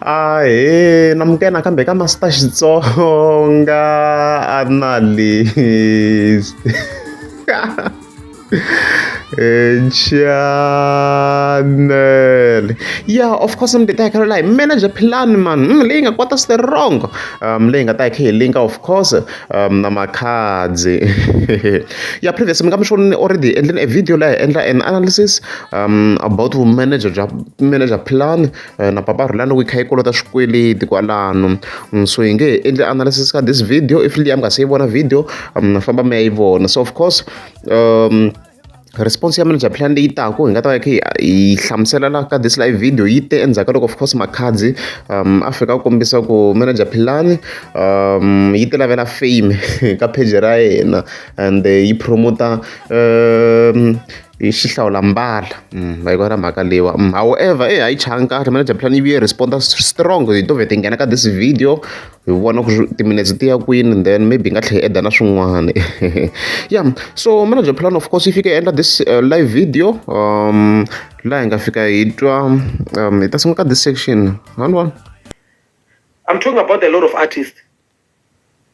Ahee namukela nakambe ka Master Xitsonga analyst channel ya of course mi ta hakela laha hi manager plan man leyi nga kwata strong um leyi nga ta hi linka of course na makhadzi ya previous mi nga mi swi vonile already hi endlile e video leyi hi endla an analysis about vumanager bya manager plan na papa rhula loko yi kha yi kolota swikweleti kwalano so hi nge hi endle analysis ka this video if liya mi nga se yi vona video famba mi ya yi vona so of course um Response ya manager plan leyi taka hi nga ta va hi kha hi hi hlamusela la ka this live video yi te endzhaku ka loko of course Makhadzi a fika a kombisa ku manager Philani yi ti lavela fame ka page ra yena and yi promoter hi xihlawulambala va yi vona mhaka leyiwa however eya a yi changa nkarhi manager plan yi vuye response strong hi to vheta hi nghena ka this video. hi vona ku timinetse ti ya kwini then maybe hi nga tlhela hi eda na swin'wana ya so manager plan of course yi fike endla this uh, live video um laha hi nga fika hi twa um hi ta sungula ka this section one one i'm talking about a lot of artists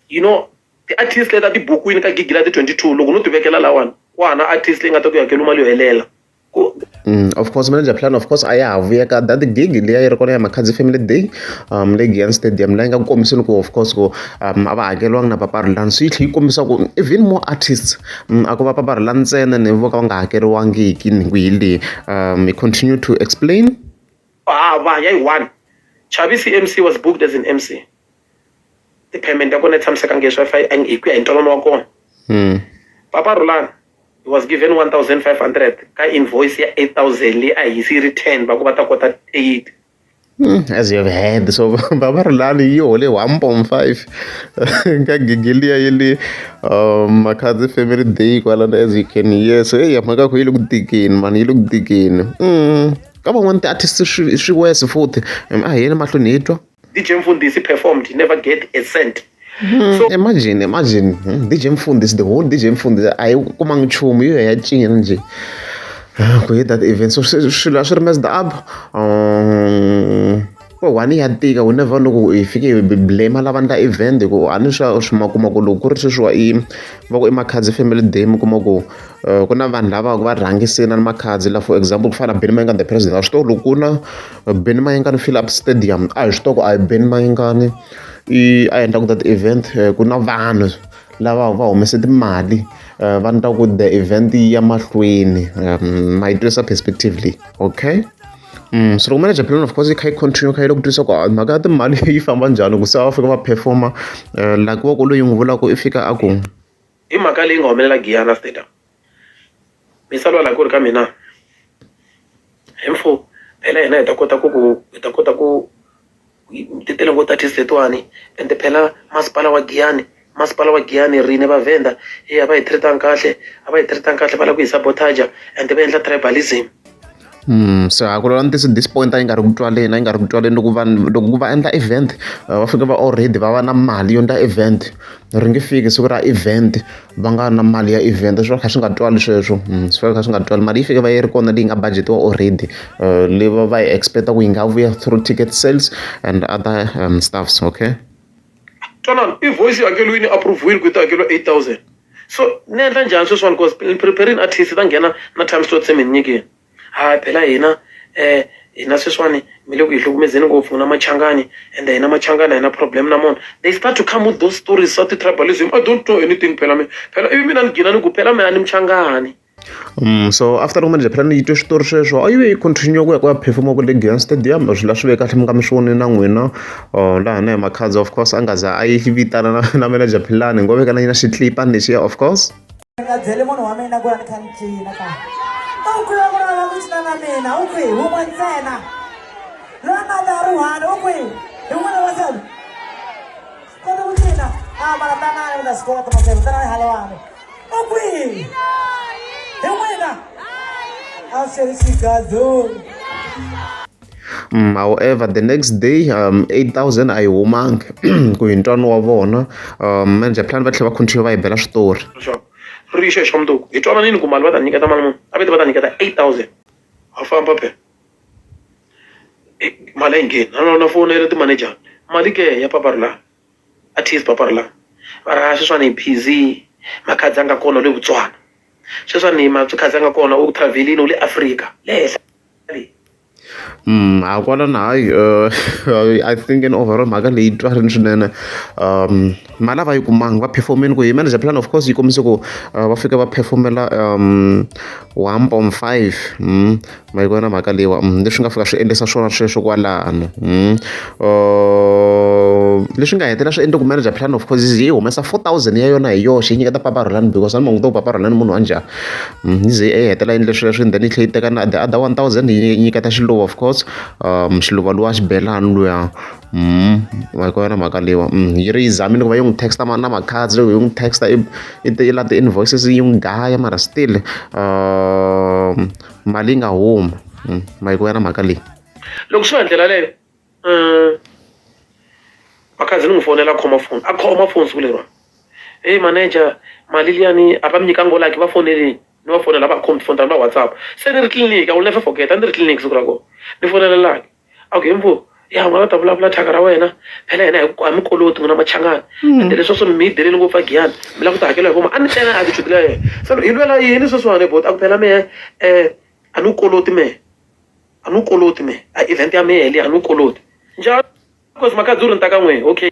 you know ti-artist leta tibukwini ka gigi la ti-twenty two loko no ti vekela lawani ku hana artist leyi nga ta ku hakela mali yo helela of course manager plan of course a ya ha vuya ka that gig liya yi ri kona ya Makhadzi family day um le Giyani stadium la yi nga ku kombiseni ku of course ku um a va hakeriwanga na papa Rhulani so yi tlhela yi kombisa ku even more artists a ko va papa Rhulani ntsena ni vo ka va nga hakeriwangiki ni ku hi le um we continue to explain hava ya yi one Chavisi MC was booked as an MC ti-payment ya kona yi tshamisekangi leswi fa hi ku ya hi ntwanano wa kona hmm. papa rulani he was given 1500 ka invoice ya 8000 leyi a hisi yi ri 10 va ku va ta kota 8 hmm, as you have heard so baba rulani yi hole 1.5 ka gigi liya yi le um, makhadzi family day kwalana as you can hear so eyi mhaka ku yi le ku tikeni mani yi le ku tikeni hmm. ka van'wana ti-artist swi wesi futhi a hi yeni mahlweni hi twa DJ Mfundisi performed, he never get a cent. Hmm, so, imagine imagine hmm, DJ Mfundisi the whole DJ Mfundisi ayikumanga nchumu yiyo yacina nje ah, ku that event so swilo a swi ri messed up um, ko one ya tika u never know ku i fike blame lava ndla event ku a ni swa swi ma kuma ku loko ku ri sweswiwa i va ku i makhadzi family day mi kuma ku eh, ku na vanhu lava va rhangisina ni makhadzi la for example ku fana na benimanga the president a swi to loko ku na ben mayingani fill up stadium a hi swi toko a hi ben mayingani i a endla ku that event eh, ku na vanhu lava va humese timali eh, va ni ta ku the event ya mahlweni eh, ma yi twisa perspectively okay Mm, so loko manager plan of course yi kha yi continue kha yi loko tisa ku ah, mhaka ya timali yi famba njhani ku se va fika va performa eh, like wa ku loyi n'wi vulaka i fika a ku i mhaka leyi nga humelela giyana stadium mi salwa la ku ri ka mina hi mfo phela hina hi ta kota ku ku hi ta kota ku ti tele ngo ta test letiwani and phela masipala wa giyani masipala wa giyani rine va venda hi a va hi treatang kahle a va hi treatang kahle va lava ku hi sabotaja and va endla tribalism swihahakulo ni ti-sweet disappoint yi nga ri ku twaleni a yi nga ri ku twaleni loko vanhu loko ku va endla event va fika va already va va na mali yo endla event ri nge fiki siku ra event va nga na mali ya event swi va kha swi nga twali sweswo swi va swi kha swi nga twali mali yi fike va yi ri kona leyi nga budget-iwa already leyi va va yi expect-a ku yi nga vuya through ticket sales and other stuffs okay. twanana i voice yo hakelo yini approve-wile ku yi ta hakeriwa 8000 so ni endla njhani sweswiwani because ni preparing artist ta nghena na time slot se mi ni nyikile ha phela hina um hina sweswiwani mi le ku hi hlukumezeni ngopfu n'wina machangani ende hina machangani hina problem na mona they start to come with those stories swa ti-tribalism i don't know anything phela mina phela ivi mina ni gina ni ku phela mina ni muchangani so after loko manager phela ni yi twe switori sweswo a yi ve yi continue ku ya ku ya perform-a kwale Giyani stadium swi la swi ve kahle mi nga mi swi vonile na n'wina or laha na hi Makhadza of course a nga za a yi vitana na na manager Philani ngo veka na yina xitlipani lexiya of course dzele munhu wa mina ku ya ni kha ni cina ka u kwiwa ku rava ku cina na mina u kwi wun'we ntsena loyi nga ta ri one u kwi hi n'wina wa sebe kota ku cina a mara tanani mi ta swi kota masebe tanani halewani Okwi! Hewena! After Chicago. Mm, however the next day um, 8000 a yi humangi ku hi ntwano wa vona um, manager plan va tlhela va continue va yi bela switori ri yi xexa mundzuku hi twananini ku mali va ta nyiketa mali munhu a vete va ta nyiketa 8000 a famba phela mali a yi ngheni na lona foni ya le timanejara mali ke ya papa ri laha Artist Paparla va ra sweswani hi busy Makhadzi a nga kona u le Botswana sweswani Makhadzi a nga kona u travel-ini u le Africa le henhla le. ha kwalano hayi I think in overall mhaka leyi twarini swinene mali a va yi kumanga va perform-ini ku hi manager plan of course yi kombise ku va fike va perform-ela one point five ma yi vona mhaka leyiwa leswi nga fika swi endlisa swona sweswo kwalano leswi nga hetelela swi endle ku manager plan of causes yi humesa four thousand ya yona hi yoxe yi nyiketa papa rholani because a ni manguta ku papa rholani munhu wa njhani yi ze yi hetelela yi endle sweswo and then yi tlhela yi teka na the other one thousand yi nyiketa xiluva of course um xiluva lowa xibelani luya ma yi vona mhaka leyiwa yi ri yi zamile ku va yi n'wi texta na makhadzi loko yi n'wi texta i la ti-invoices yi n'wi dlaya mara still um mali yi nga huma hmm, ma yi ku ya na mhaka leyi loko swi nga ndlela leyo um vakhazi ni n'wi fonela a khoma foni a khoma foni siku leriwa heyi manager mali liyani a va mi nyika ngolaki va foneleni ni va fonela va khomi tifoni ta ni va whatsapp se ni ri tliliniki a wu never forget a ni ri tliliniki siku ra kona ni fonelelaki a ku hembo ya n'wana ta vulavula thyaka ra wena phela yena hi mi koloti n'wina machangani hmm. ende leswi swo mi yi deleli ngopfu a giyani mi lava ku ti hakela hi voma a ni tlela a tichudile ya yena se hi lwela yini sweswiwani bot a ku phela mehe um a ni wu koloti mehe a ni wu koloti mehe a event ya mehe leyi a ni wu koloti njhani because makadzi u ri ni ta ka n'wehe okay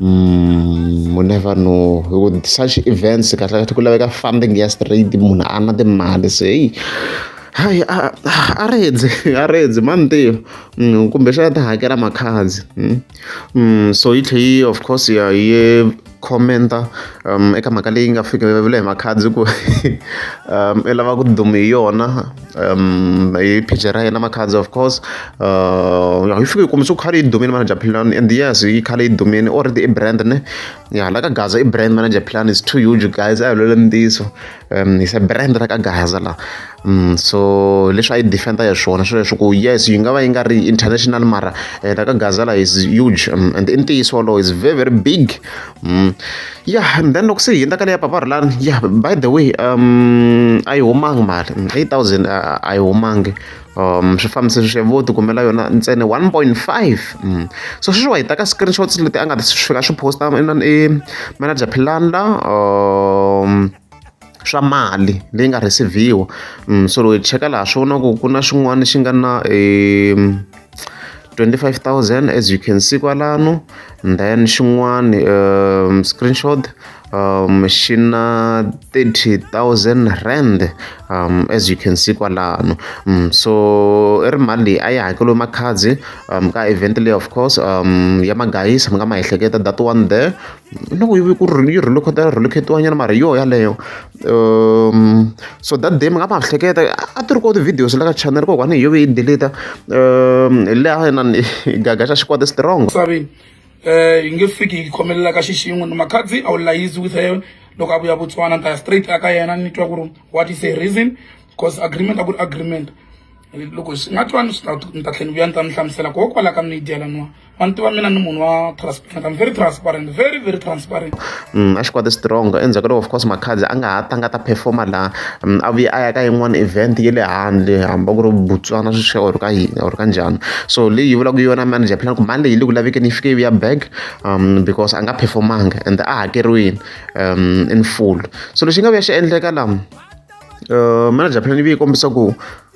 u never know hi ku such events kahlekahle ku laveka funding ya straight munhu a ri na timali se heyi hayi a a rindze a rindze mani ntivo kumbexana ti hakela makhadzi so yi tlhe yi of course ya yi comment-a eka mhaka leyi nga fika hi makhadzi ku i lava ku duma hi yona. um, hi page ra yena makhadzi of course uh, hi fike hi kombisa ku khale i dumile manager plan and yes yi khale i dumile already i brand ne ya la ka gaza i brand manager plan is too huge guys a hi lwele ntiyiso um hi se brand ra ka gaza la um so leswi a yi defenda ya swona swi leswi ku yes yi nga va yi nga ri international mara eh, la ka gaza la is huge um, and i ntiyiso wolowo is very very big Mm. Yeah, and then loko se hi endla ka leya papa Rulani, yeah, by the way, um a yi humangi mali, 8000 a a yi humangi. Um swi fambise swi vo ti kumela yona ntsena 1.5. Mm. So sweswiwa hi ta ka screenshots leti a nga ta swi fika swi posta inana i manager Philanda um swa mali leyi nga receive-iwa um so loko hi cheka laha swi vona ku ku na xin'wana xi nga na um 25000 as you can see kwalano then xin'wana um screenshot um xi na 30000 rand um as you can see kwalano um so i ri mali leyi a yi hakeliwe makhadzi um ka event leyi of course um ya magayisa mi nga ma ehleketa that one there no ku yi ku yi rhuluketa rhuluketiwa nyana mara hi yona yaleyo so that day mi nga ma hleketa a ti ri koho ti-videos la ka channel ko kwani hi yo yi deleta hi leha inani gaga xa xikwadi strong misaveni um yi nge fiki yi khomelela ka xixin'we ni makhadzi a wu layizi with her loko a vuya botswana ni ta ya straight a ka yena ni twa ku ri what is a reason because agreement a ku ri agreement loko swi nga twani swi ta ni ta tlhela ni vuya ni ta mi hlamusela koho kwala ka midia laniwa wa ni tiva mina ni munhu wa transparent I'm very transparent very very transparent mm, a xikwadi strong endzhaku ka loko of course makhadzi a nga ha tanga ta performa laha mm, a vuye a ya ka yin'wana event ye le handle hamba ku ri botswana swi swi or ka yini or ka njhani so leyi yi vulaka yona manager plan ku mali leyi le ku lavekeni yi fike yi ya back um because a nga performanga and a hakeriwini um in full so lexi nga vuya xi endleka laha uh, manager plan yi vuye yi kombisa ku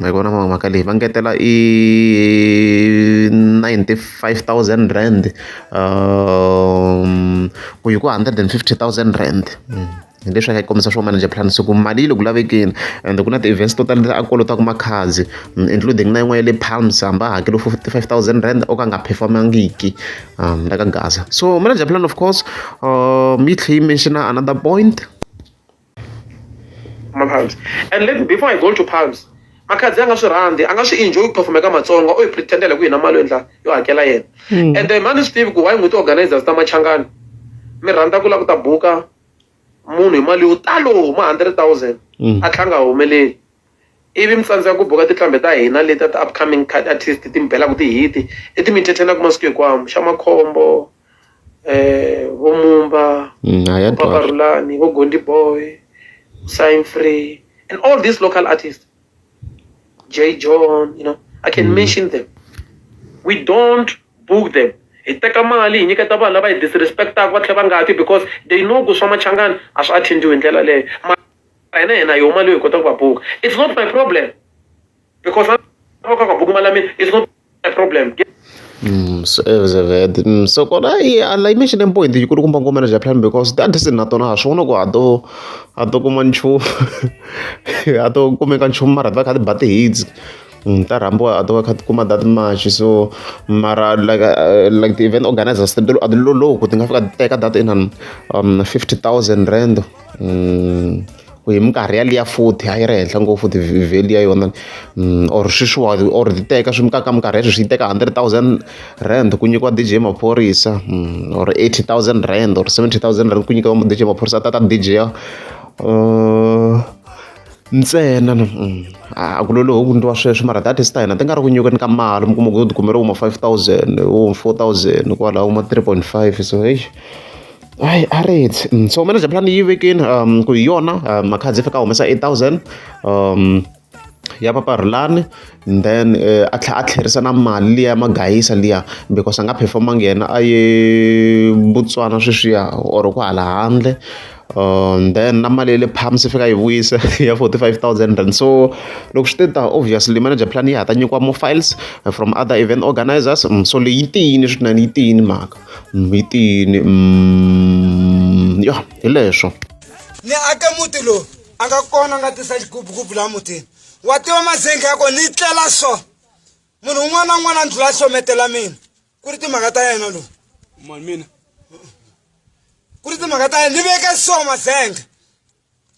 hi vona mhaka leyi va ngetela i ninety five thousand rand ku yi ku hundred and fifty thousand rand hi leswi a nga yi kombisa swo manager plan se ku mali yi le ku lavekeni ende ku na ti-events to tala a kolotaka makhadzi including na yin'wana ya le palms hambi a hakele fifty five thousand rand o ka a nga perform-angiki la ka gaza so manager plan of course yi tlhela yi mention-a another point. mapalms and let before i go to palms makhadzi a nga swi rhandzi a nga swi enjoy ku perform eka matsonga u yi pretendela ku yina mali yo endla yo hakela yena hmm. and then mani swi tivi ku why n'wi ti-organizers ta machangani mi rhandza ku lava ku ta buka munhu hi mali yo talo ma hundred thousand hmm. a tlhanga a humeleli Ivi mi tsandzeka ku buka tinqambi ta hina letiya ti upcoming card artist ti mi belaku ti hit i ti mi entertainaku masiku hinkwawo xa makhombo vo mumba vo papa rhulani vo gondi boy sign free and all these local artists j john you know i can mm. mention them we don't book them hi teka mali hi nyiketa vanhu lava hi disrespectaka va tlhela va nga ti because they know ku swa machangani a swi attend-iwi hi ndlela leyo a hi na yena yo mali yo hi kota ku va buka it's not my problem because va ka ka buku mali ya mina it's not my problem Mm, so, eh, so, eh, mm, so kona i ala imagine point yi kulu kumba ngomela ja plan because that is not on hasho no kwa do ato kuma nchu ato kumeka nchu mara va khadi bati hits mm, ta rambo ato khadi kuma that much so mara like uh, like the event organizers they do adlo lo ku tinga fika teka that in um 50000 rand um ku hi minkarhi ya liya futhi a yi ri henhla ngopfu ti-value ya yona mm, or sweswiwa or ti teka swi mikaka minkarhi ya sweswi yi teka hundred thousand rand ku nyikiwa dj maphorisa mm, or eighty thousand rand or seventy thousand rand ku nyikiwa dj maphorisa a tata dj ya uh, ntsena mm, a ku lolohi ku ndliwa sweswo mara that is ta hina ti nga ri ku nyikweni ka mali mi kuma ku ti kumeriwa ma five thousand wo four thousand kwalaho ma three point five so heyi Hayi a ri ti so manager plan yi vekini ku hi yona makhadzi i faneke a humesa eight thousand ya papa Rhulani and then a tlhela a tlherisa na mali liya ya magayisa liya because a nga phefomanga yena a ye Botswana sweswiya or kwahala handle then na mali ya le palms i faneke a yi vuyisa ya forty five thousand rand so loko swi te tano obviously manager plan ya ha ta nyikiwa more files from other event organizers so leyi yi tiyini swinene yi tiyini mhaka. mhitini umm ya hi leswo ni ake muti lowu a nga kona a nga tisa xigubugubu laha mutini wa tiva mazenge ya ko ni tlela so munhu un'wana na un'wana a ndlula a hlometela mina ku ri timhaka ta yena lowu mani mina ku ri timhaka ta yena ni veke so mazenge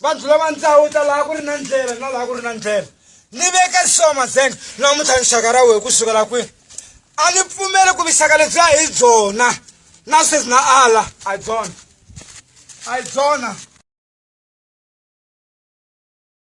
va dlula va ndzawu ta laha ku ri na ndlela na laha ku ri na ndlela ni veke so mazenga namuntlha nxaka ra wehe ku sukela kwini a ni pfumeli ku vixaka lebyi a hi byona na sweswi na ala a hi byona a hi byona